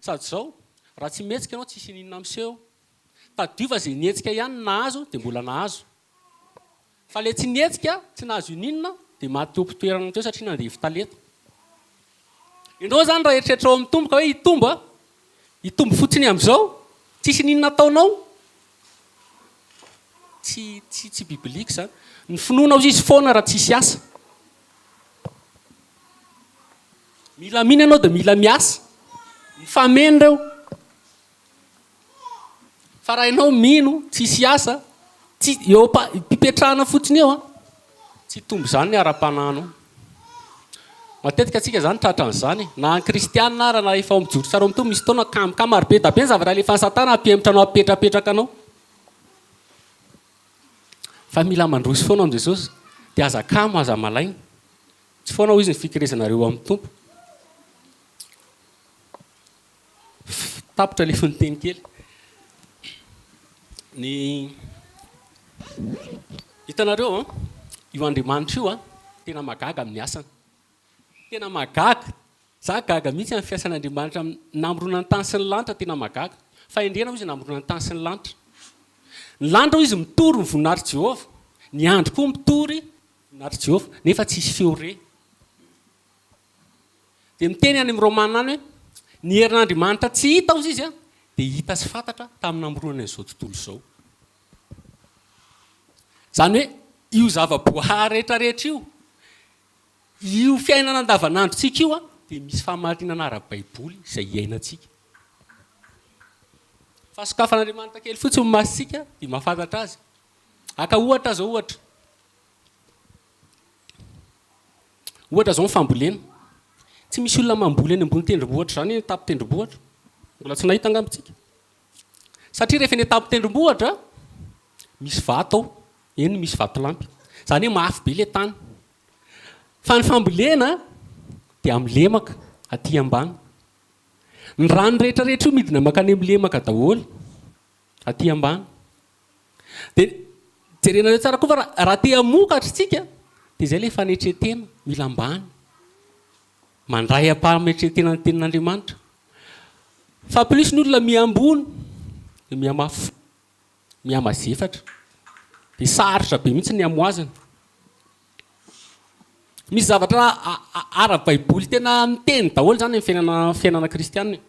Sady zao, raha tsy mihetsika ianao tsisy ininona miseho. Tadidio fa ze nihetsika ihany no nahazo de mbola nahazo. Fa le tsy nihetsika, tsy nahazo ininona de maty teo ampitoerana teo satria nandevo talenta. Enao zany raha eritreritrao mitomboka hoe hitombo a, Hitombo fotsiny amizao tsisy ninona ataonao tsy tsy tsy biblique zany ny finoanao izy foana raha tsisy asa mila mino ianao de mila miasa mifameno reo fa raha ianao mino tsisy asa tsy eo am-pipetrahana fotsiny eo an Tsy hitombo izany ny ara-panahy anao. Matetika antsika izany tratra an'izany e. Na ny kristiana ara na efa ao amin'ny jory sy ara-mitoa misy fotoana kamka maro be da be ny zavatra alefan'i satana hampihemotra anao hampipetrapetraka anao. Fa mila mandroso foana amin'i Jesosy dia aza kamo aza malaina. Tsy foana hoy izy ny fikerezanareo amin'ny Tompo. Tapitra ilay fononteny kely. Ny hitanareo an, io Andriamanitra io an, tena mahagaga amin'ny asany. Tena mahagaga. Izaho gaga mihitsy amin'ny fiasan'Andriamanitra amin'ny namoronany ny tany sy ny lanitra, tena mahagaga. Fahendrena hoy izy namoronany ny tany sy ny lanitra. Ny lanitra hoy izy mitory ny voninahitr'i Jehovah, ny andro koa mitory ny voninahitr'i Jehovah, nefa tsisy feo re. Dia miteny any amin'ny Romana any hoe, Ny herin'Andriamanitra tsy hita, hozy izy, dia hita sy fantatra tamin'ny namoronany an'izao tontolo izao. Izany hoe, io zava-boahary rehetrarehetra io, io fiainana andavanandrontsika io, dia misy fahamarinana ara-baiboly izay iainantsika. Fa sokafan'Andriamanitra kely fotsiny ny masontsika dia mahafantatra azy. Haka ohatra aho izao, ohatra. Ohatra zao ny fambolena. Tsy misy olona mamboly any ambony tendrombohitra zany eny tapon-tendrombohitra. Mbola tsy nahita angamba tsika. Satria rehefa eny an-tapon-tendrombohitra, misy vato ao, eny misy vatolampy. Zany hoe mafy be le tany. Fa ny fambolena dia amin'ny lemaka aty ambany. Ny rano rehetra rehetra io midina makany amin'ny lemaka daholo. Aty ambany. Dia jerenareo tsara koa fa raha te hamokatra isika dia izay ilay fanetren-tena, mila ambany. Mandray am-pametren-tena ny tenin'Andriamanitra. Fa plus ny olona miha-ambony dia miha-mafy, miha-mazefatra. Dia sarotra be mihitsy ny hamohazana. Misy zavatra ara-baiboly tena miteny daholo izany amin'ny fiainana kristianina.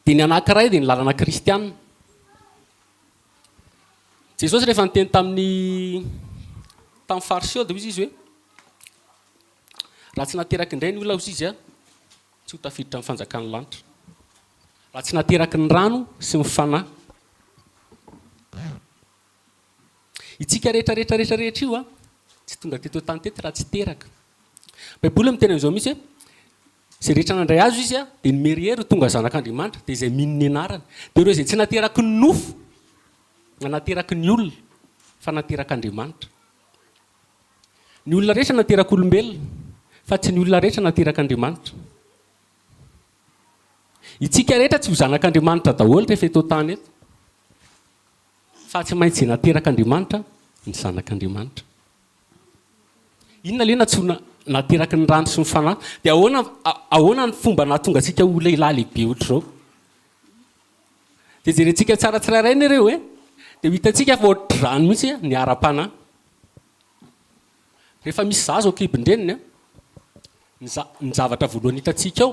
Dia ny anankiray dia ny lalana kristiana. Jesosy rehefa niteny tamin'ny tamin'ny fariseo dia hoy izy hoe raha tsy nateraky indray ny olona hoy izy a tsy ho tafiditra amin'ny fanjakan'ny lanitra. Raha tsy nateraky ny rano sy ny fanahy. Itsika rehetra rehetra rehetra rehetra io a tsy tonga teto tany teto raha tsy teraka. Baiboly miteny an'izao mihitsy hoe Izay rehetra nandray azy izy dia nomery hery ho tonga zanak'Andriamanitra, dia izay mino ny anarany. Dia ireo izay tsy nateraky ny nofo na nateraky ny olona, fa naterak'Andriamanitra. Ny olona rehetra naterak'olombelona, fa tsy ny olona rehetra naterak'Andriamanitra. Itsika rehetra tsy ho zanak'Andriamanitra daholo rehefa eto an-tany eto, fa tsy maintsy izay naterak'Andriamanitra no zanak'Andriamanitra. Inona ilay nantsoina nateraky ny rano sy ny fanahy? Dia ahoana ahoana ny fomba nahatonga antsika ho lehilahy lehibe ohatr'izao? Dia jerentsika tsara tsirairay ny ireo e! Dia ho hitantsika fa ohatr'izany mihitsy ny ara-panahy. Rehefa misy zaza ao an-kibon-dreniny an, ny za- ny zavatra voalohany hitantsika ao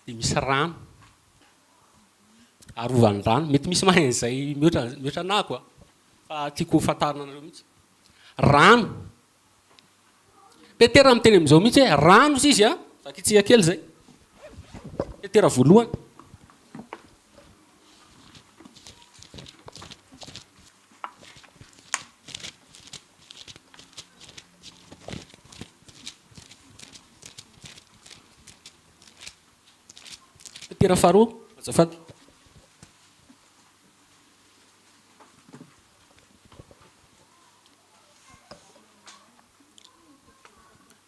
dia misy rano, arovany rano. Mety misy mahay an'izay mihoatra mihoatra anah koa. Fa tiako ho fantarina anareo mihitsy. Rano. Petera miteny amin'izao mihitsy hoe rano izy izy a. Vakitsika kely izay. Petera voalohany. Petera faharoa, azafady.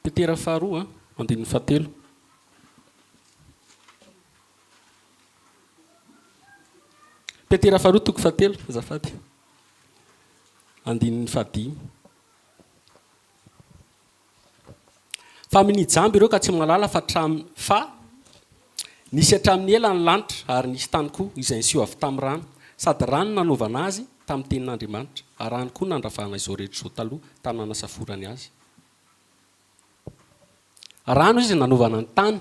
Petera faharoa, andininy fahatelo. Petera faharoa toko fahatelo, azafady. Andininy fahadimy. Fa minia jamba ireo ka tsy mahalala fa tram fa nisy hatramin'ny ela ny lanitra ary nisy tany koa izay niseho avy tamin'ny rano. Sady rano no nanaovana azy tamin'ny tenin'Andriamanitra, ary rano koa nandravahana izao rehetra izao taloha tany nanasaforany azy. Rano izy no nanaovana ny tany.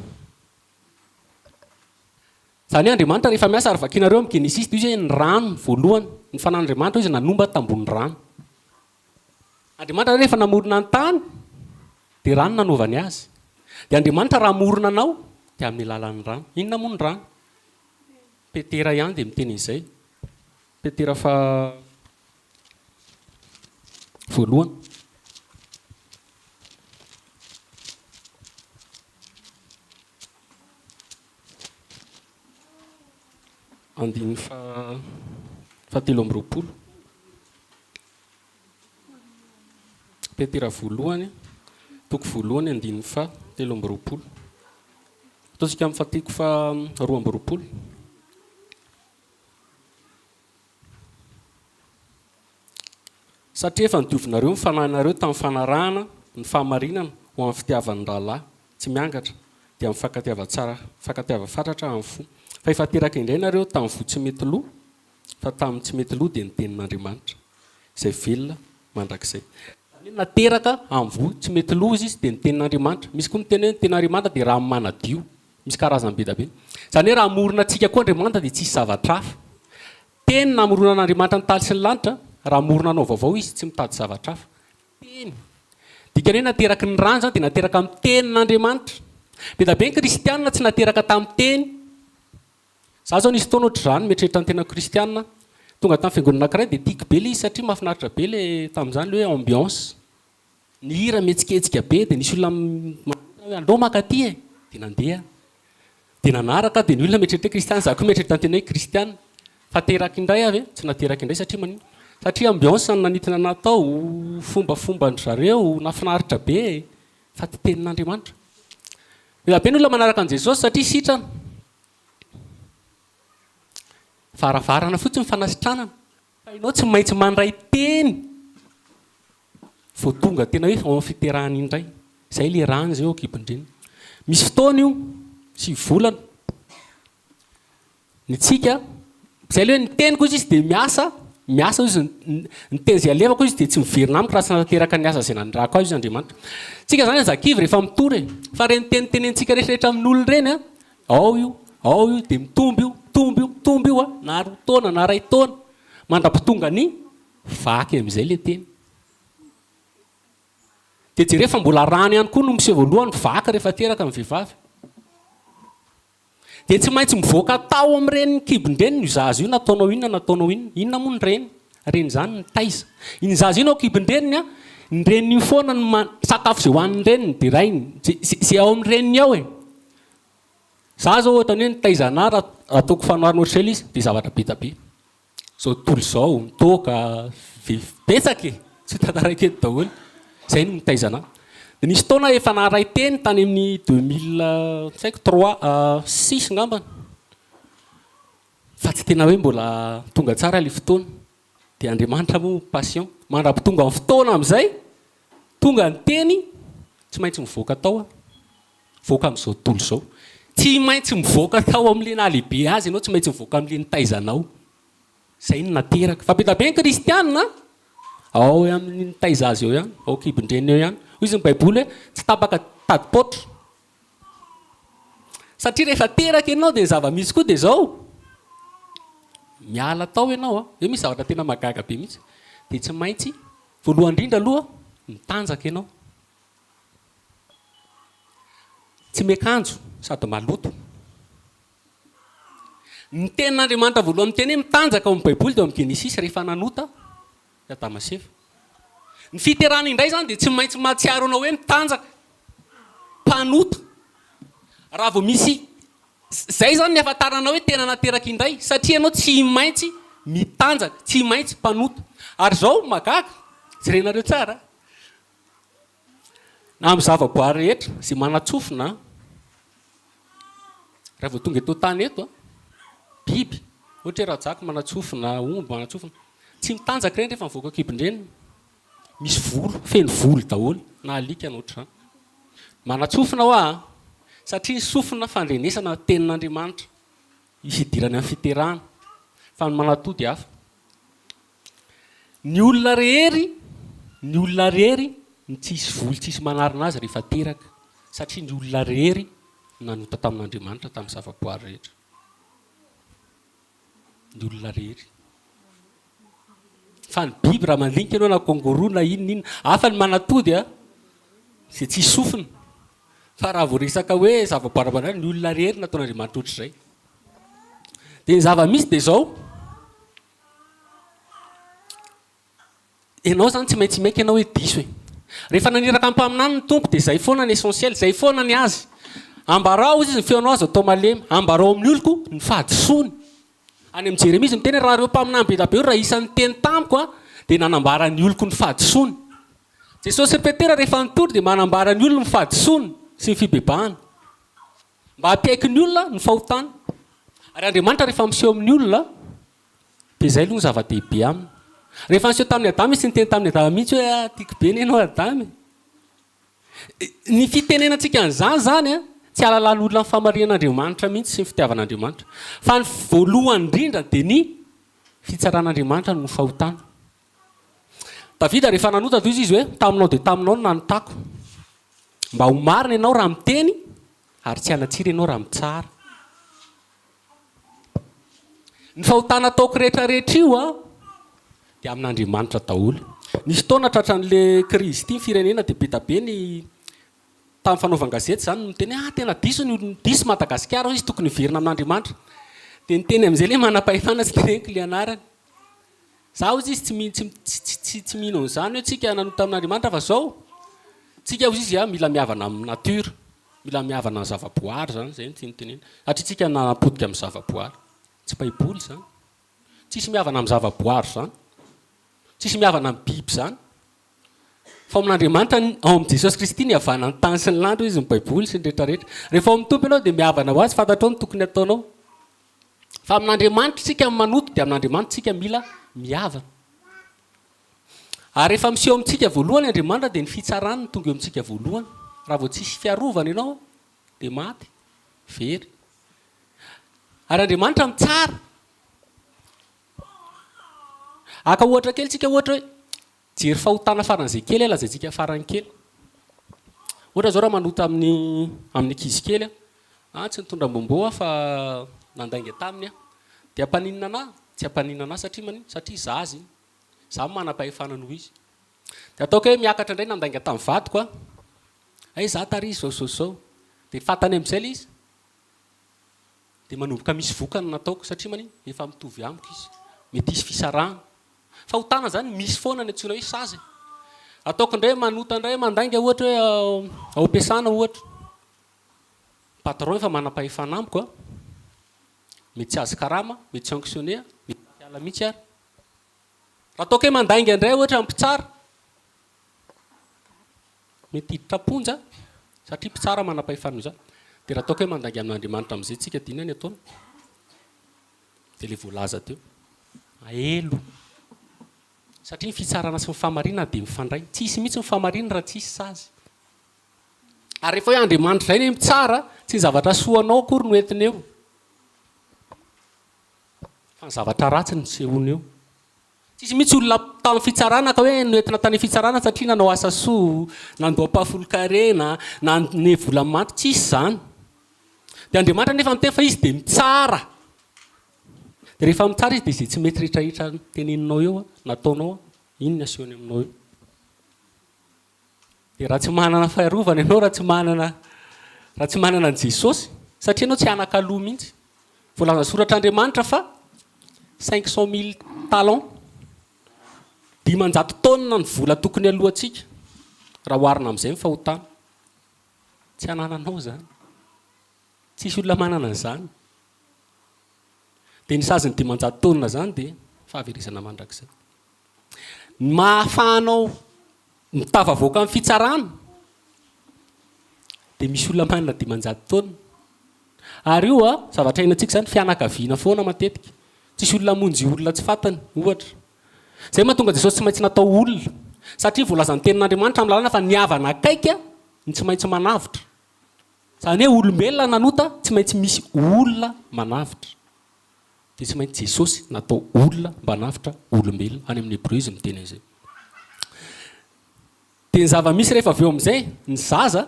Izany hoe Andriamanitra rehefa miasa ary vakianareo amin'ny Genesisy, dia io izay ny rano voalohany. Ny fanan'Andriamanitra io izay nanomba tambonin'ny rano. Andriamanitra rehefa namorona ny tany dia rano nanaovany azy. Dia Andriamanitra raha hamorona anao dia amin'ny alalan'ny rano. Inona moa ny rano? Petera ihany dia miteny an'izay. Petera fa voalohany. Andininy faha telo amby roapolo. Petera voalohany, toko voalohany, andininy faha telo amby roapolo. Ataontsika amin'ny fahatiko faha roa amby roapolo. Satria efa nodiovinareo ny fanahinareo tamin'ny fanarahana ny fahamarinana ho amin'ny fitiavan'ny rahalahy tsy miangatra, dia amin'ny fankatiavan-tsara, fankatiavan fatratra amin'ny fo. Fa efa teraka indray nareo tamin'ny voa tsy mety lo, fa tamin'ny tsy mety lo dia ny tenin'Andriamanitra, izay velona mandrakizay. Izany hoe nateraka amin'ny voa tsy mety lo izy, dia ny tenin'Andriamanitra. Misy koa miteny hoe ny tenin'Andriamanitra dia rano manadio. Misy karazany be da be. Izany hoe raha hamorona antsika koa Andriamanitra dia tsy hisy zavatra hafa. Teny namoronan'Andriamanitra ny tany sy ny lanitra, raha hamorona anao vaovao Izy, tsy mitady zavatra hafa. Teny. Dikany hoe nateraky ny rano izany dia nateraka amin'ny Tenin'Andriamanitra. Be da be ny kristiana tsy nateraka tamin'ny Teny. Izaho izao nisy fotoana ohatr'izany, mieritreritra ny tenako kristiana aho. Tonga tamin'ny fiangonana anankiray dia tiako be ilay izy satria mahafinaritra be ilay, tamin'izany ilay hoe ambiance. ny hira mihetsiketsika be dia nisy olona manantena hoe aleo maka aty e! dia nandeha dia nanaraka aho dia ny olona mieritreritra hoe kristiana za koa mieritreritra ny tena hoe kristiana fa teraka indray aho ve? tsy nateraka indray satria maninona? satria ambiance no nanintona anah tao, fombafomban-dry zareo nafinaritra be e! fa tsy tenin'Andriamanitra mila be ny olona manaraka an'i Jesosy satria sitrana, varavarana fotsiny fanasitranana Fa ianao tsy maintsy mandray teny vao tonga tena hoe vao amin'ny fiterahana indray. Izay ilay rano izay eo an-kibon-dreniny. Misy fotoana io, sivy volana. Ny antsika, izay ilay hoe ny teniko hoy izy tsy dia miasa, miasa hoy izy, ny teny izay alevako hoy izy dia tsy miverina amiko raha tsy nanateraka ny asa izay nanirahako azy hoy izy Andriamanitra. Isika izany aza kivy rehefa mitory e. Fa ireny teny tenenitsika rehetrarehetra amin'olona ireny an, Ao io, ao io, dia mitombo io, mitombo io, mitombo io a! Na roa taona, na iray taona, mandra-pitonga ny vaky amin'izay ilay teny. Dia jereo fa mbola rano ihany koa no miseho voalohany, vaky rehefa teraka ny vehivavy. Dia tsy maintsy mivoaka tao amin'ny reniny kibon-dreniny io zaza io, nataonao inona, nataonao inona. Inona moa ny reny? Reny izany mitaiza. Iny zaza iny ao kibon-dreniny an, ny reniny io foana no man-, sakafo izay hohanin'ny reniny, derainy, izay ao amin'ny reniny ao e. Za zao ohatran'ny hoe nitaiza anah ra ataoko fanoharana ohatr'izay le izy de zavatra be da be. Zao tontolo zao, ny toaka, betsaka e! tsy ho tantarako eto daholo. Zay no nitaiza anah. De nisy fotoana efa naharay teny tany amin'ny deux mille tsy haiko trois six ngambany fa tsy tena hoe mbola tonga tsara le fotoana. Dia Andriamanitra moa patient. Mandrapitonga ny fotoana amin'izay, tonga ny teny, tsy maintsy mivoaka tao aho. Mivoaka amin'izao tontolo izao. Tsy maintsy mivoaka tao amin'ilay nahalehibe azy ianao, tsy maintsy mivoaka amin'ilay nitaiza anao. Izay no nateraka. Fa be dia be ny kristiana ao amin'ny nitaiza azy eo ihany, ao an-kibon-dreniny eo ihany. Hoy izy ny baiboly hoe, tsy tapaka tadipaotra. Satria rehefa teraka ianao dia ny zava-misy koa dia izao, miala tao ianao an, eo misy zavatra tena mahagaga be mihitsy, dia tsy maintsy voalohany indrindra aloha mitanjaka ianao, tsy miakanjo sady maloto. Ny tenin'Andriamanitra voalohany miteny hoe mitanjaka ao amin'ny baiboly dia ao amin'ny genesisy rehefa nanota. Ny Adama sy Eva. Ny fiterana indray izany dia tsy maintsy mahatsiaro anao hoe mitanjaka, mpanota, raha vao misy, izay izany ny ahafantaranao hoe tena nateraka indray, satria ianao tsy maintsy mitanjaka, tsy maintsy mpanota. Ary izao, mahagaga, jerenareo tsara, na amin'ny zavaboary rehetra izay manan-tsofina, raha vao tonga eto an-tany eto an, biby, ohatra hoe rajako manan-tsofina, omby manan-tsofina, tsy mitanjaka ireny rehefa mivoaka an-kibon-dreniny, misy volo, feno volo daholo na alika na ohatr'izany. Manan-tsofina ho'a an, satria ny sofina fandrenesana tenin'Andriamanitra, hisy hidirany amin'ny fiterahana, fa ny manatody hafa. Ny olona rehery, ny olona rehery no tsy hisy voly tsy hisy manarina azy rehefa teraka, satria ny olona rehery no nanota tamin'Andriamanitra tamin'ny zavaboary rehetra. Ny olona rehery. Fa ny biby raha mandinika ianao na kôngôro na inona inona, hafa ny manatody a, izay tsisy sofina. Fa raha vao resaka hoe zavaboary ara-pananahana, ny olona rehery no nataon'Andriamanitra ohatr'izay. Dia ny zava-misy dia izao. Ianao izany tsy maintsy maika ianao hoe diso e. Rehefa naniraka ny mpaminany ny Tompo dia izay foana ny essentiel, izay foana ny azy. Ambarao izy ny feonao aza atao malemy, ambarao amin'ny oloko ny fahadisoany. Any amin'ny Jeremia izy miteny hoe raha ireo mpaminany be dia be ireo raha isan'ny niteny tamiko dia nanambara ny oloko ny fahadisoany. Jesosy sy Petera rehefa nitory dia manambara ny olony ny fahadisoany sy ny fibebahany. Mba hampiaiky ny olona ny fahotany. Ary Andriamanitra rehefa miseho amin'ny olona dia izay aloha no zava-dehibe aminy. Rehefa niseho tamin'i Adama izy tsy niteny tamin'i Adama mihitsy hoe ah tiako be anie ianao Adama e. Ny fitenenantsika an'izany izany tsy hahalalan'olona ny famarihan'Andriamanitra mihitsy sy ny fitiavan'Andriamanitra. Fa ny voalohany indrindra dia ny fitsaran'Andriamanitra no fahotana. Davida rehefa nanota dia hoy izy hoe, Taminao dia taminao no nanotako. Mba ho marina ianao raha miteny, ary tsy hanatsira ianao raha mitsara. Ny fahotana ataoko rehetrarehetra io an, dia amin'Andriamanitra daholo. Nisy fotoana tratran'le crise ity ny firenena dia be da be ny tamin'ny fanaovan-gazety izany no miteny hoe ah tena diso ny olona, diso Madagasikara hoy izy tokony hiverina amin'Andriamanitra. Dia ny teny amin'izay le manam-pahefana tsy teneniko le anarany. Za hozy izy tsy mino tsy tsy mino an'izany hoe tsika nanota amin'Andriamanitra fa zao tsika hozy izy a mila mihavana amin'ny nature mila mihavana ny zavaboary zany zay no tiany tenena satria tsika nanapotika amin'ny zavaboary tsy baiboly zany tsisy mihavana amin'ny zavaboary zany tsisy mihavana amin'ny biby zany fa ao amin'Andriamanitra ny ao amin'i Jesosy Kristy ny havanan'ny tany sy ny lanitra izy ny baiboly sy ny rehetra rehetra rehefa ao amin'ny Tompo ianao dia mihavana ho azy fantatrao ny tokony ataonao Fa amin'Andriamanitra tsika no manoto dia amin'Andriamanitra tsika mila mihavana. Ary rehefa miseho amintsika voalohany Andriamanitra dia ny fitsarany no tonga eo amintsika voalohany. Raha vao tsisy fiarovana ianao dia maty, very. Ary Andriamanitra mitsara. Haka ohatra kely tsika ohatra hoe, Jery fahotana faran'izay kely a, lazaintsika farany kely. Ohatra zao raha manota amin'ny amin'ny ankizy kely aho, ah tsy nitondra bonbon aho fa nandainga taminy aho. Dia ampaninona anah? Tsy ampaninona anah satria manino? Satria zaza iny. Za manam-pahefana noho izy. Dia ataoko hoe miakatra indray nandainga tamin'ny vadiko aho. Hay za tary izy zao zao zao. Dia fantany amin'izay le izy. Dia manomboka misy vokany ny nataoko satria maninn efa mitovy amiko izy. Mety hisy fisarahana. Fahotana izany misy foana ny antsoina hoe sazy e. Ataoko indray manota indray mandainga ohatra hoe ao am-piasana ohatra. Ny patron efa manam-pahefana amiko a. Mety tsy hahazo karama, mety sanctionner aho, mety tsy hiala mihitsy ary. Raha ataoko hoe mandainga indray ohatra mpitsara. Mety hiditra am-ponja satria mpitsara manam-pahefana io izany. Dia raha ataoko hoe mandainga amin'Andriamanitra amin'izay isika dia inona ny ataony? Dia ilay voalaza teo. Mailo. Satria ny fitsarana sy ny fahamarinana dia mifandray. Tsy hisy mihitsy ny fahamarinana raha tsy hisy sazy. Ary rehefa hoe Andriamanitra izay ny mpitsara, tsy ny zavatra soa anao akory no entiny eo, fa ny zavatra ratsy no hisehoany eo. Tsisy mihitsy olona tany fitsarana ka hoe noentina tany fitsarana satria nanao asa soa, nandoa ampahafolon-karena, nanome vola manty, tsisy izany. Dia Andriamanitra nefa miteny fa Izy dia mitsara. Dia rehefa mitsara Izy dia izay tsy mety rehetra rehetra teneninao eo, nataonao, iny ny asehony aminao eo. Dia raha tsy manana faharovana ianao, raha tsy manana, raha tsy manana an'i Jesosy, satria ianao tsy anakaloha mihitsy. Voalazan'ny soratr'Andriamanitra fa cinq cent mille talents, dimanjato taonina ny vola tokony aloantsika, raha oharina amin'izay ny fahotana. Tsy anananao izany. Tsisy olona manana an'izany. Dia ny sazin'ny dimanjato taonina izany dia fahaverezana mandrakizay. Ny maha afahanao mitafavoaka amin'ny fitsarana dia misy olona manana dimanjato taona. Ary io an, zavatra iainantsika izany, fianakaviana foana matetika. Tsisy olona hamonjy olona tsy fantany, ohatra. Izay no mahatonga an'i Jesosy tsy maintsy natao olona. Satria voalazan'ny tenin'Andriamanitra amin'ny lalana fa ny havana akaiky no tsy maintsy manavotra. Izany hoe olombelona nanota tsy maintsy misy olona manavotra. Dia tsy maintsy Jesosy natao olona mba hanavotra olombelona. Any amin'ny Hebreo izy miteny an'izay. Dia ny zava-misy rehefa avy eo amin'izay, ny zaza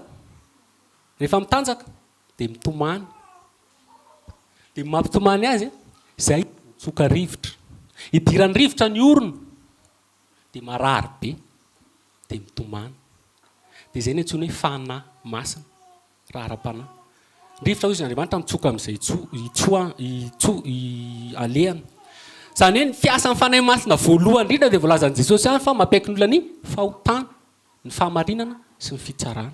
rehefa mitanjaka dia mitomany. Dia ny mampitomany azy, izay mitsoka rivotra. Idiran'ny rivotra ny orony, dia marary be, dia mitomany. Dia izay no antsoina hoe Fanahy Masina. Raha ara-panahy. Rivotra hoy izy, Andriamanitra mitsoka amin'izay alehany. Izany hoe ny fiasan'ny Fanahy Masina voalohany indrindra dia voalazan'i Jesosy ihany fa mampiaiky ny olona ny fahotana, ny fahamarinana sy ny fitsarana.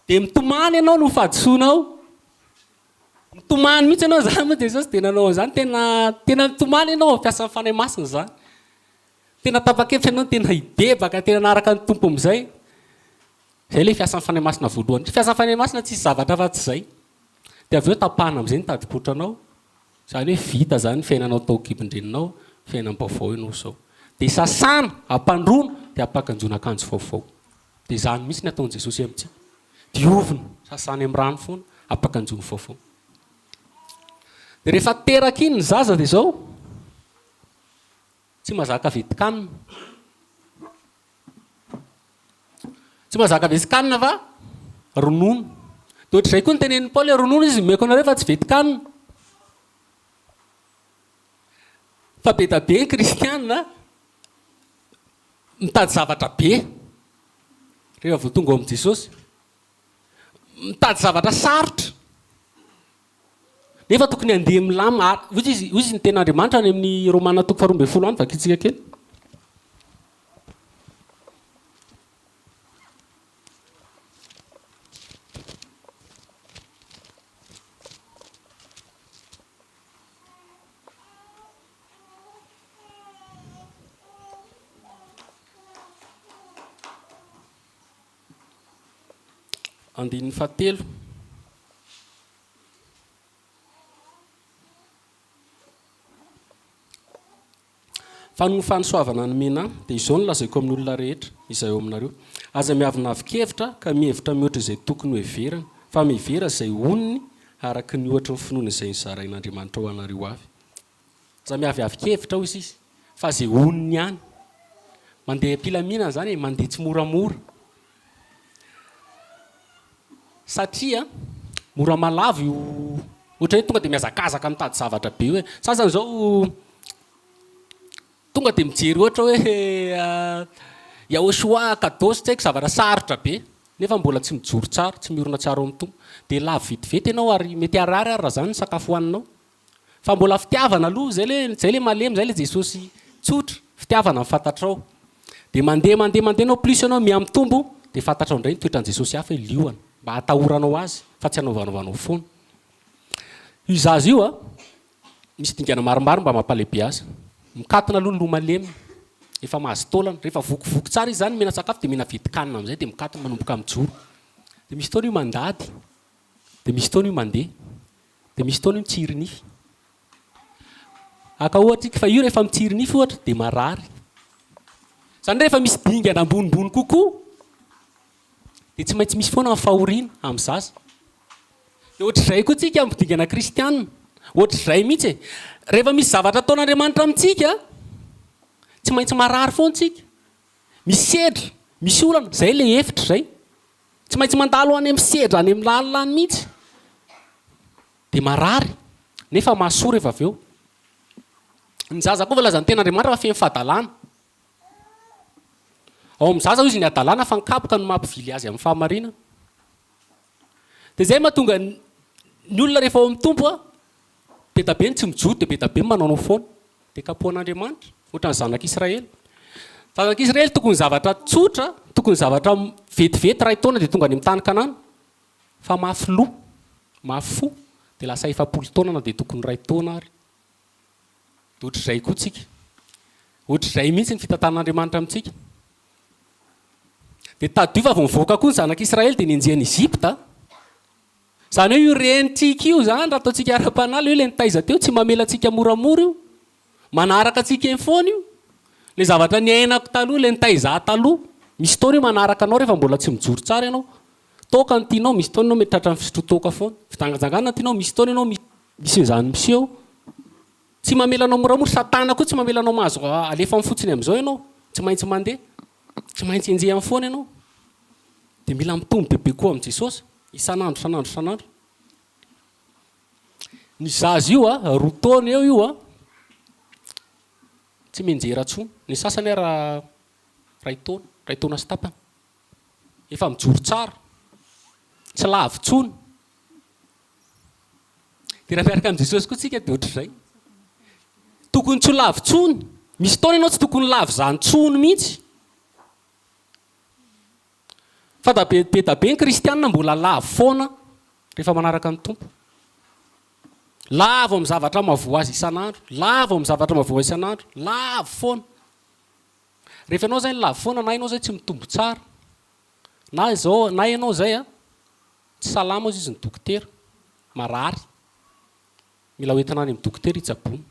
Dia mitomany ianao no fahadisoanao. Mitomany mihitsy ianao izany moa Jesosy dia nanao an'izany. Tena tena nitomany ianao amin'ny fiasan'ny Fanahy Masina izany. Tena tapa-kevitra ianao ny tena hibebaka tena hanaraka ny Tompo amin'izay. Izay ilay fiasan'ny Fanahy Masina voalohany. Ny fiasan'ny Fanahy Masina tsisy zavatra afa-tsy izay. Dia avy eo tapahana amin'izay ny tadin-kotranao, izany hoe vita izany ny fiainanao tao an-kibon-dreninao, fiainam-baovao ianao izao. Dia sasana, ampandroana, dia ampankanjoina akanjo vaovao. Dia izany mihitsy ny ataon'i Jesosy amintsika. Diovina, sasana amin'ny rano foana, ampankanjoina vaovao. Dia rehefa teraka iny ny zaza dia izao. Tsy mazaka vitikan. Tsy mazaka vesikan va? Ronono. Dia ohatr'izay koa ny tenenin'i Paoly hoe ronono izy nomeko anareo fa tsy vetikan. Fa be da be ny kristiana mitady zavatra be rehefa vao tonga ao amin'i Jesosy. Mitady zavatra sarotra. Nefa tokony handeha milamina a- hoy izy, hoy izy ny teny Andriamanitra any amin'ny Romana toko faharoa ambin'ny folo any, vakintsika kely. Andininy fahatelo. Fa noho ny fanosoavana nomena ahy, dia izao no lazaiko amin'olona rehetra, izay ao aminareo, Aza miavonavon-kevitra ka mihevitra mihoatra izay tokony hoheverana, fa mihevera izay onony araka ny ohatry ny finoana izay nizarain'Andriamanitra ho anareo avy. Za miaviavy kevitra hoy sisa fa ze honiny ihany. Mandeha am-pilaminana zany e, mandeha tsimoramora. Satria mora malavo io ohatra hoe tonga de mihazakazaka mitady zavatra be io e. Sasany zao tonga de mijery ohatra hoe yaoshua, kados, tsy haiko zavatra sarotra be nefa mbola tsy mijoro tsara, tsy miorina tsara ao amin'ny Tompo. De lavo vetivety ianao ary mety harary ary raha zany ny sakafo hohaninao. Fa mbola fitiavana aloha, zay le zay le malemy, zay le Jesosy tsotra, fitiavana ny fantatrao. De mandeha mandeha mandeha anao plus anao mihamitombo de fantatrao ndray ny toetran'i Jesosy hafa hoe liona, mba hatahoranao azy fa tsy hanaovanaovanao foana. Io zaza io a, misy dingana maromaro mba mampalehibe azy. Mikatona aloha ny loha malemy, efa mahazo taolana, rehefa vokivoky tsara izy zany mihina sakafo de mihina vidikanina am'zay de mikatona manomboka mijoro. De misy fotoana io mandady, de misy fotoana io mandeha. Dia misy fotoana io mitsiry nify. Haka ohatra ika fa io rehefa mitsiry nify ohatra dia marary. Izany hoe rehefa misy dingana ambonimbony kokoa dia tsy maintsy misy foana ny fahoriana amin'ny zaza. Dia ohatr'izay koa tsika amin'ny dingana kristiana. Ohatr'izay mihitsy e. Rehefa misy zavatra ataon'Andriamanitra amintsika, tsy maintsy marary foana tsika. Misy sedra, misy olana, izay ilay efitra izay. Tsy maintsy mandalo any amin'ny sedra any amin'ny lalina any mihitsy dia marary nefa mahasoa rehefa avy eo. Ny zaza koa voalazan'ny ten'Andriamanitra fa feno fahadalana. Ao amin'ny zaza hoy izy ny hadalana fa ny kapoka no mampivily azy amin'ny fahamarinana. Dia izay mahatonga ny olona rehefa ao amin'ny Tompo Be da be ny tsy mijoro dia be da be ny manaonao foana. Dia kapohan'Andriamanitra, ohatra ny zanak'Israely. Zanak'Israely tokony zavatra tsotra, tokony zavatra vetivety iray taona dia tonga any amin'ny tany Kanana. Fa mafy loha, mafy fo, dia lasa efapolo taona na dia tokony iray taona ary. Dia ohatr'izay koa tsika. Ohatr'izay mihitsy ny fitantanan'Andriamanitra amintsika. Dia tadidio fa vao nivoaka koa ny zanak'Israely dia nenjehin'i Egypta. Izany hoe io renintsika io izany raha ataontsika ara-panahy, ilay hoe ilay nitaiza teo, tsy mamela antsika moramora io, manaraka antsika eny foana io. Ilay zavatra niainako taloha, ilay nitaiza ahy taloha, misy fotoana io manaraka anao rehefa mbola tsy mijoro tsara ianao. Toaka no tianao, misy fotoana ianao mety tratra ny fisotroan-toaka foana. Fijanganjangana no tianao, misy fotoana ianao mi- misy an'izany miseho. Tsy mamela anao moramora, Satana koa tsy mamela anao mahazo a- alefa aminy fotsiny amin'izao ianao, tsy maintsy mandeha. Tsy maintsy enjehiny foana ianao. Dia mila mitombo bebe koa amin'i Jesosy, isan'andro, isan'andro, isan'andro. Ny zaza io, roa taona eo io, tsy mianjera intsony. Ny sasany ary iray taona, iray taona sy tapany. Efa mijoro tsara, tsy lavo intsony. Dia raha miaraka amin'i Jesosy koa isika dia ohatr'izay. Tokony tsy ho lavo intsony. Misy fotoana ianao tsy tokony ho lavo izany intsony mihitsy. Fa da be be da be ny kristiana mbola lavo foana rehefa manaraka ny Tompo. Lavo amin'ny zavatra mahavoa azy isan'andro, lavo amin'ny zavatra mahavoa isan'andro, lavo foana. Rehefa ianao izay no lavo foana na ianao izay tsy mitombo tsara, na izao, na ianao izay a, Tsy salama hozy izy ny dokotera, marary, mila hoentina any amin'ny dokotera hitsaboana.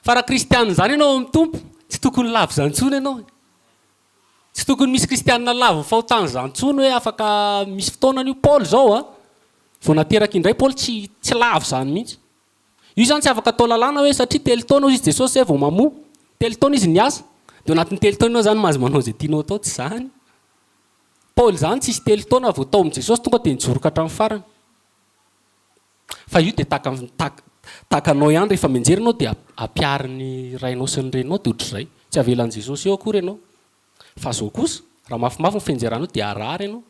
Fa raha kristianina izany ianao ao amin'ny Tompo, tsy tokony lavo izany intsony ianao e! Tsy tokony misy kristianina lavo fahotan'izany intsony hoe afaka misy fotoana an'io Paoly izao a! Vao nateraka indray Paoly tsy tsy lavo izany mihitsy. Io izany tsy afaka atao lalàna hoe satria telo taona hozy izy Jesosy izay vao mamoa. Telo taona izy niasa, dia ao anatin'ny telo taona izany mahazo manao izay tianao atao, tsy izany. Paoly izany tsisy telo taona vao tao amin'i Jesosy tonga dia nijoro ka hatramin'ny farany. Fa io dia tahaka tahaka anao ihany rehefa mianjera ianao dia ampiharin'ny rainao sy ny reninao dia ohatr'izay. Tsy avelan'i Jesosy eo akory ianao. Fa izao kosa, raha mafimafy ny fianjeranao dia harary ianao.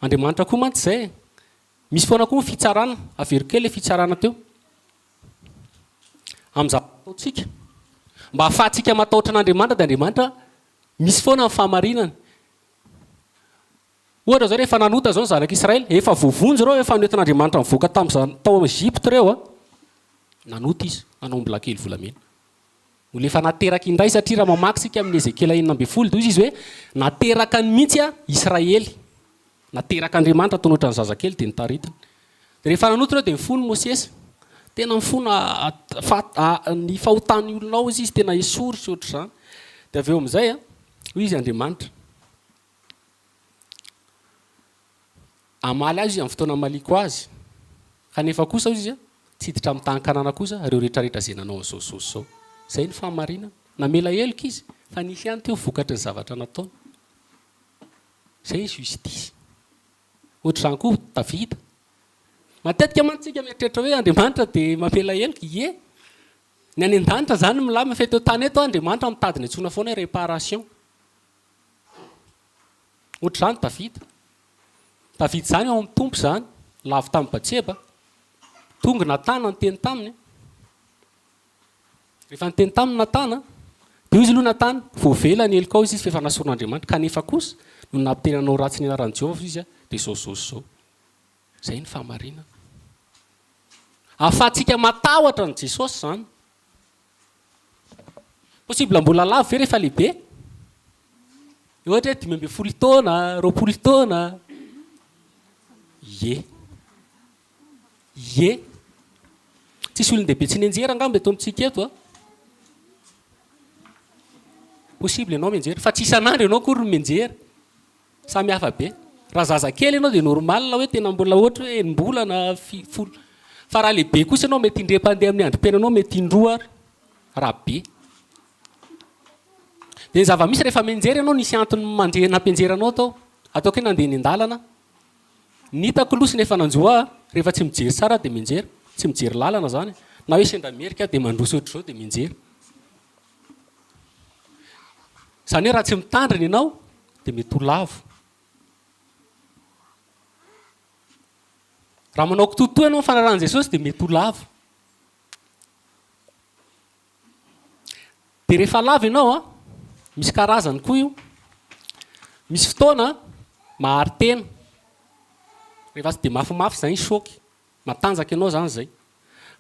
Andriamanitra koa mantsy izay e. Misy foana koa ny fitsarana. Averiko kely ilay fitsarana teo. Amin'ny zavatra ataontsika. Mba hahafahantsika matahotra an'Andriamanitra dia Andriamanitra Misy foana ny fahamarinana. Ohatra izao rehefa nanota izao ny zanak'i Israël, efa voavonjy ireo efa noentin'Andriamanitra nivoaka tamin'izany tao amin'ny Egypte ireo a. Nanota izy, nanao ny bilakely volamena. Olona efa nateraka indray satria raha mamaky isika amin'ny Ezekiela enina ambin'ny folo dia hoy izy hoe nateraka ny mihitsy a Israël. Naterak'Andriamanitra tao anatran'ny zazakely dia nitaritiny. Rehefa nanota ireo dia nifono Mosesy. Tena mifono ny fahotan'ny olona ao izy, izy tena esory sy ohatr'izany. Dia avy eo amin'izay, hoy izy Andriamanitra. Hamaly azy izy amin'ny fotoana hamaliako azy. Kanefa kosa, hoy izy, tsy hiditra amin'ny tany Kanana kosa ireo rehetrarehetra izay nanao an'izao sy izao sy izao. Izay ny fahamarinana. Namela heloka izy, fa nisy ihany teo vokatry ny zavatra nataony. Izay ny justice. Ohatr'izany koa Davida. Matetika mantsy tsika mieritreritra hoe Andriamanitra dia mampela heloka. Ie. Ny any an-danitra izany milamina fa eto an-tany eto Andriamanitra mitady ny antsoina foana hoe réparation. Ohatr'izany Davida. Davida izany ao amin'ny Tompo izany, lavo tamin'i Batseba. Tonga i Natana niteny taminy. Rehefa niteny taminy Natana, dia hoy izy, Aloha Natana, voavela ny helokao izy fa efa nasoron'Andriamanitra, kanefa kosa noho ny nampiteny hanao ratsy ny anaran'i Jehovah izy, dia izao, izao sy izao. Izay ny fahamarinana. Ahafahantsika matahotra an'i Jesosy izany. Possible mbola lavo ve rehefa lehibe? Ohatra hoe dimy ambin'ny folo taona, roapolo taona. Ie. Ie. Tsisy olon-dehibe tsy nianjera angamba eto amintsika eto a. Possible ianao mianjera, fa tsy isan'andro ianao akory no mianjera. Samy hafa be. Raha zazakely ianao dia normal hoe tena mbola ohatra hoe enim-bola na fi- folo. Fa raha lehibe kosa ianao mety indray mpandeha amin'ny androm-piainanao, mety indroa ary, raha be. Dia ny zava-misy rehefa mianjera ianao nisy antony mande- nampianjeranao tao. Ataoko hoe nandeha eny an-dalana aho. Ny hitako loha sy ny efa nanjo ahy, rehefa tsy mijery sary aho dia mianjera, tsy mijery lalana izany e, na hoe sendra merika aho dia mandroso ohatr'izao dia mianjera. Izany hoe raha tsy mitandrina ianao dia mety ho lavo. Raha manao kitoatoa ianao ny fanarahan'i Jesosy dia mety ho lavo. Dia rehefa lava ianao an, misy karazany koa io. Misy fotoana mahary tena, rehefa tsy dia mafimafy izay ny choc, matanjaka ianao izany izay.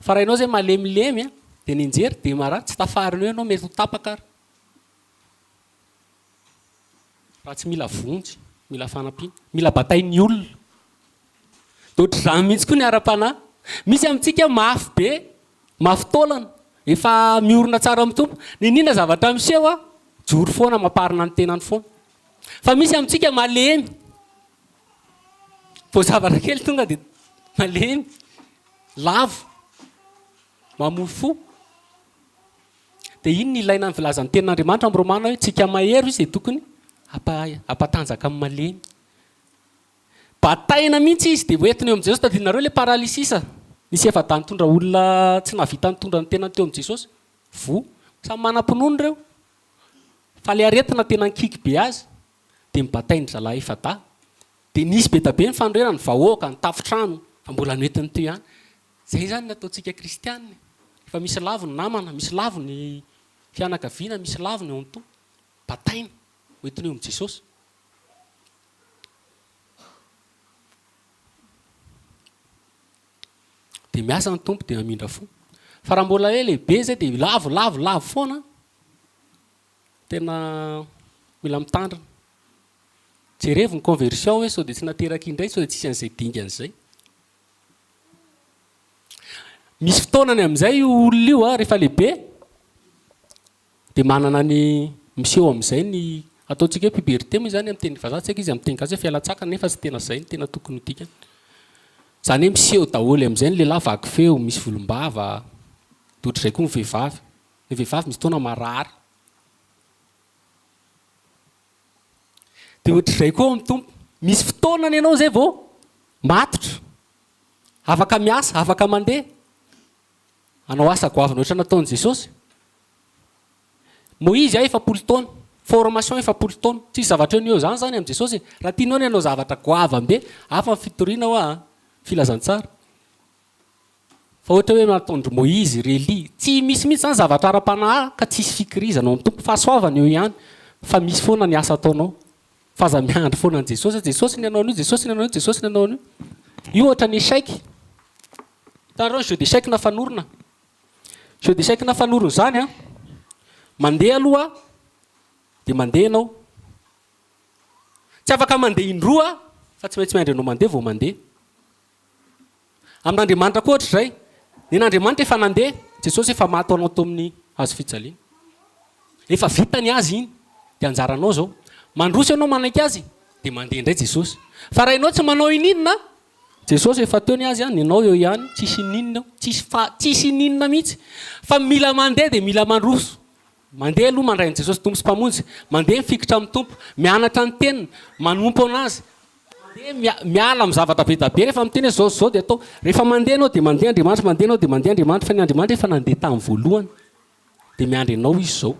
Fa raha ianao izay malemilemy an, dia nianjera dia marary, tsy tafarin'eo ianao, mety ho tapaka ary. Raha tsy mila vonjy, mila fanampiana, mila batain'ny olona. Dia ohatr'izany mihitsy koa ny ara-panahy. Misy amintsika mafy be, mafy taolana, efa miorina tsara amin'ny Tompo. Niniana zavatra miseho aho, joro foana, mamparina ny tenany foana. Fa misy amintsika malemy, vao zavatra kely tonga dia malemy, lavo, mamoa fo. Dia iny no ilaina ny filazan'ny tenin'Andriamanitra ao amin'ny Romana hoe, Tsika mahery hoy izay tokony hampahay, hampatanjaka amin'ny malemy. Bataina mihitsy izy dia hoentiny eo amin'i Jesosy. Tadidinareo ilay paralysis nisy efa-dahy nitondra olona tsy nahavita nitondra ny tenany teo amin'i Jesosy? Voa. Samy manam-pinoana ireo, fa ilay aretina tena nikiky be azy dia nobatain'ny zalahy efa-dahy. Dia nisy be dia be ny fanorenana, ny vahoaka, ny tafon-trano, fa mbola noentiny teo ihany. Izay izany ny ataontsika kristiana e! Efa misy lavo ny namana, misy lavo ny fianakaviana, misy lavo ny ao an-toa. Bataina, hoentiny eo amin'i Jesosy. Dia miasa ny Tompo, dia hamindra fo. Fa raha mbola hoe lehibe izay dia lavo, lavo, lavo foana. Tena mila mitandrina. Jerevo ny conversion hoe sao dia tsy nateraka indray, sao dia tsisy an'izay dingana izay. Misy fotoanany amin'izay io olona io rehefa lehibe dia manana ny miseho amin'izay ny ataontsika hoe puberté moa izany amin'ny teny vazaha tsy haiko izy amin'ny teny gasy hoe fialan-tsakana nefa tsy tena izay no tena tokony ho dikany. Izany hoe miseho daholo amin'izay ny lehilahy vaky feo, misy volom-bava, dia ohatr'izay koa ny vehivavy. Ny vehivavy misy fotoana marary. Dia ohatr'izay koa ny Tompo. Misy fotoana ny anao izay vao matotra. Afaka miasa, afaka mandeha. Hanao asa goavana ohatran'ny nataon'i Jesosy. Moizy aho efapolo taona, formation efapolo taona. Tsisy zavatra eo no eo izany izany amin'i Jesosy e. Raha tianao ny hanao zavatra goavambe, hafa ny fitoriana hoa an, filazantsara. Fa ohatra hoe nataon-dry Moizy, ry Elia, tsy misy mihitsy izany zavatra ara-panahy ka tsisy fikirizana ao amin'ny Tompo. Fahasoavana eo ihany fa misy foana ny asa ataonao. Fa aza miandry foana an'i Jesosy hoe Jesosy ny hanao an'io, Jesosy ny hanao an'io, Jesosy ny hanao an'io. Io ohatra ny échec. Hitanareo ny jeu d'échec na fanorona? Jeu d'échec na fanorona izany an, mandeha aloha dia mandeha ianao. Tsy afaka mandeha indroa fa tsy maintsy miandry anao mandeha vao mandeha. Amin'Andriamanitra koa hoatr'izay. Nen'Andriamanitra efa nandeha, Jesosy efa maty ho anao teo amin'ny hazo fijaliana. Efa vita ny azy iny, dia anjaranao izao. Mandroso ianao manaiky azy, dia mandeha indray Jesosy. Fa raha ianao tsy manao ininona, Jesosy efa teo ny azy, ny anao eo ihany, tsisy ininona eo, tsisy fa tsisy ininona mihitsy. Fa mila mandeha dia mila mandroso. Mandeha aloha mandray an'i Jesosy Tompo sy Mpamonjy, mandeha mifikitra amin'ny Tompo, mianatra ny teniny, manompo anazy, mandeha miala amin'ny zavatra be da be, rehefa miteny hoe zao sy zao dia atao, rehefa mandeha anao dia mandeha Andriamanitra, mandeha anao dia mandeha Andriamanitra, fa ny Andriamanitra efa nandeha tamin'ny voalohany, dia miandry anao Izy izao.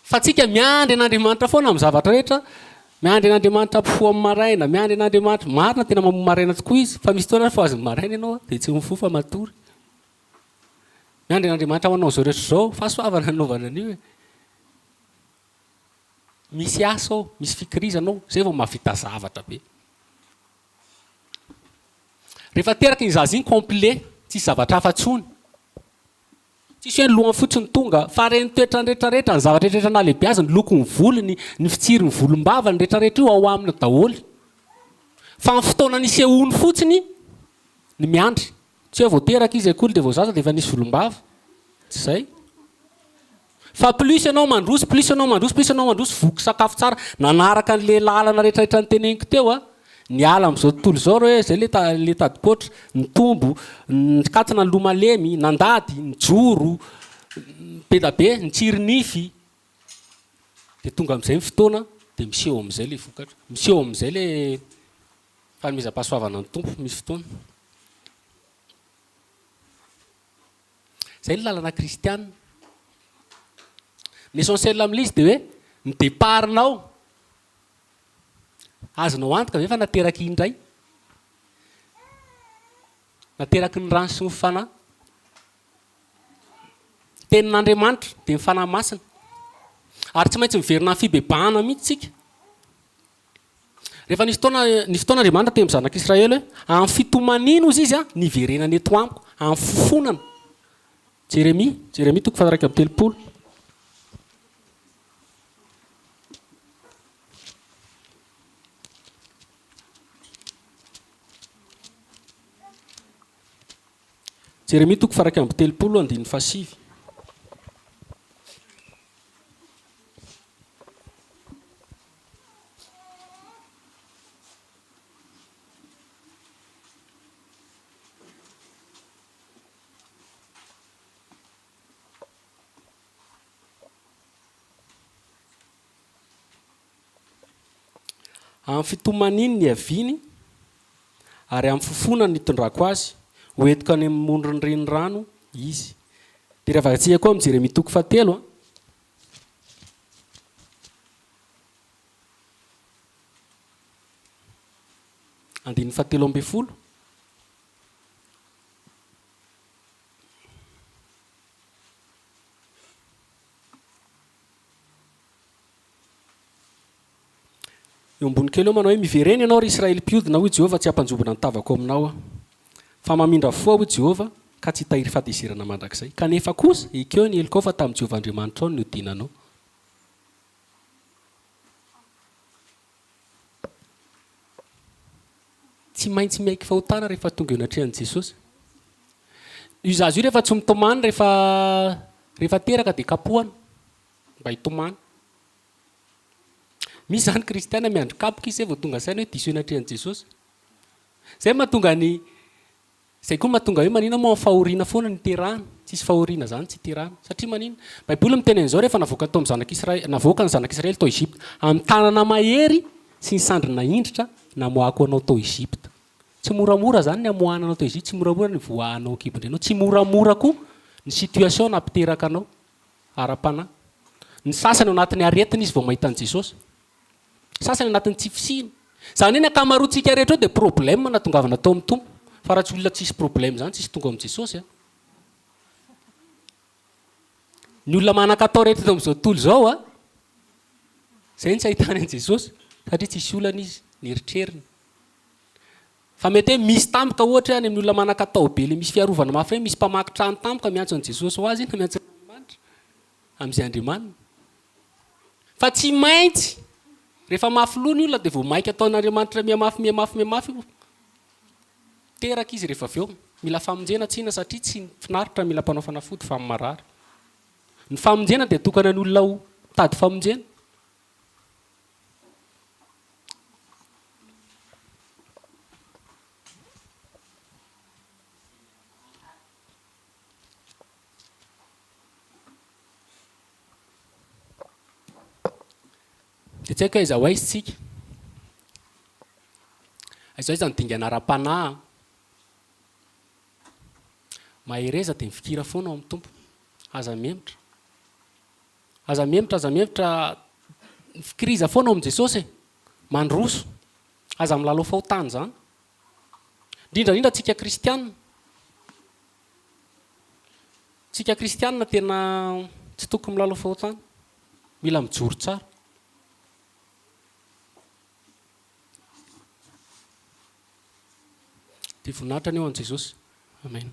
Fa tsika miandry an'Andriamanitra foana amin'ny zavatra rehetra, miandry an'Andriamanitra mpifoha amin'ny maraina, miandry an'Andriamanitra, marina tena mamoa maraina tokoa Izy, fa misy fotoana aza fohazin'ny maraina ianao dia tsy mifoha fa matory. Miandry an'Andriamanitra manao izao rehetra izao, fahasoavana nanaovana an'io e. Misy asa ao, misy fikirizana ao, izay vao mahavita zavatra be. Rehefa teraka iny zaza iny complet, tsisy zavatra hafa intsony. Tsisy hoe ny lohany fotsy no tonga, fa reny toetrany retraretra, ny zavatra retraretra nahalehibeaziny, lokony volony, ny fitsiriny volombavany, retraretra io ao aminy daholo. Fa ny fotoana nisehoany fotsiny ny miandry. Tsy hoe vao teraka izy akory dia vao zaza dia efa nisy volombava. Tsy izay. Fa plus ianao mandroso, plus ianao mandroso, plus ianao mandroso, voky sakafo tsara, nanaraka an'le lalana rehetrarehetra niteneniko teo a! Niala am'zao tontolo izao reo e, zay le ta- le tadikoatra, nitombo, nikatona ny loha malemy, nandady, nijoro, be da be, nitsiry nify. De tonga am'zay ny fotoana de miseho am'zay le vokatra, miseho am'zay le fanomezam-pahasoavana ny Tompo, misy fotoana. Izay ny lalana kristiana. Ny essentiel amin'ilay izy dia hoe ny départ-nao, azonao antoka ve fa nateraky indray? Nateraky ny rano sy ny Fanahy. Ny tenin'Andriamanitra dia ny Fanahy Masina. Ary tsy maintsy miverina amin'ny fibebahana mihitsy isika. Rehefa nisy fotoana, nisy fotoana Andriamanitra teny amin'ny zanak'Israely hoe, Amin'ny fitomaniana hozy izy niverenany eto amiko, amin'ny fofonana. Jeremia, Jeremia toko faha-iraika amby telopolo. Jeremia toko faha-iraika amby telopolo, andininy fahasivy. Amin'ny fitomaniany niaviany ary amin'ny fofona nitondrako azy ho entiko any amin'ny moron'ny renirano izy. Dia ravakatsia koa amin'i Jeremia toko fahatelo a. Andininy fahatelo ambin'ny folo. Eo ambony kely eo manao hoe, Miverena ianao, ry Israely mpiodina, hoy Jehovah, tsy hampanjombona ny tavako aminao aho. Fa mamindra fo aho, hoy Jehovah, ka tsy hitahiry fahatezerana mandrakizay. Kanefa kosa, ekeo ny helokao, fa tamin'i Jehovah Andriamanitrao no niodinanao. Tsy maintsy miaiky fahotana rehefa tonga eo anatrehan'i Jesosy. Io zaza io rehefa tsy mitomany, rehefa, rehefa teraka dia kapohana, mba hitomany. Misy zany kristiana miandry kapoka izy zay vao tonga saina hoe diso eny atrehan'i Jesosy. Zay mahatonga ny zay koa mahatonga hoe manina moa fahoriana foana ny terahana. Tsisy fahoriana zany tsy terahana. Satria manina? Baiboly miteny an'izao rehefa navoakany tao amin'ny zanak'Israely, navoaka ny zanak'Israely tao Egypta amin'ny tanana mahery sy ny sandrina indritra namoahako anao tao Egypta. Tsy moramora zany ny amoahana anao tao Egypta, tsy moramora ny voahanao an-kibon-drenao, tsy moramora koa ny situation nampiteraka anao. ara-panahy. Ny sasany ao anatin'ny aretina izy vao mahita an'i Jesosy. Ny sasany anatin'ny tsy fisiany. Izany hoe ny ankamaroantsika rehetra eo dia problème natongavana tao amin'ny Tompo. Fa raha tsy olona tsisy problème izany tsisy tonga ao amin'i Jesosy an. Ny olona manan-katao rehetra eto amin'izao tontolo izao an, izay no tsy ahitany an'i Jesosy satria tsisy olana izy, ny eritreriny. Fa mety hoe misy tampoka ohatra hoe any amin'ny olona manan-katao be ilay misy fiarovana mafy hoe misy mpamaky trano tampoka miantso an'i Jesosy ho azy na miantso an'Andriamanitra amin'izay andriamaniny. Fa tsy maintsy rehefa mafy loha ny olona dia vao maika ataon'Andriamanitra mihamafy mihamafy mihamafy io teraka izy rehefa avy eo. Mila famonjena tsina satria tsy ny finaritra mila mpanao fanafody fa ny marary. Ny famonjena dia atokana ny olona ho mitady famonjena Dia tsy haiko hoe aiza ho aiza isika. Aiza ho aiza ny dingana ara-panahy an! Mahereza dia mifikira foana ao amin'ny Tompo. Aza mihemotra. Aza miemotra aza miemotra Fikiriza foana ao amin'i Jesosy e! Mandroso! Aza milalao fahotana izany! Indrindra indrindra antsika kristiana! Antsika kristiana tena tsy tokony milalao fahotana! Mila mijoro tsara! Dia voninahitra ny ho an'i Jesosy. Amen.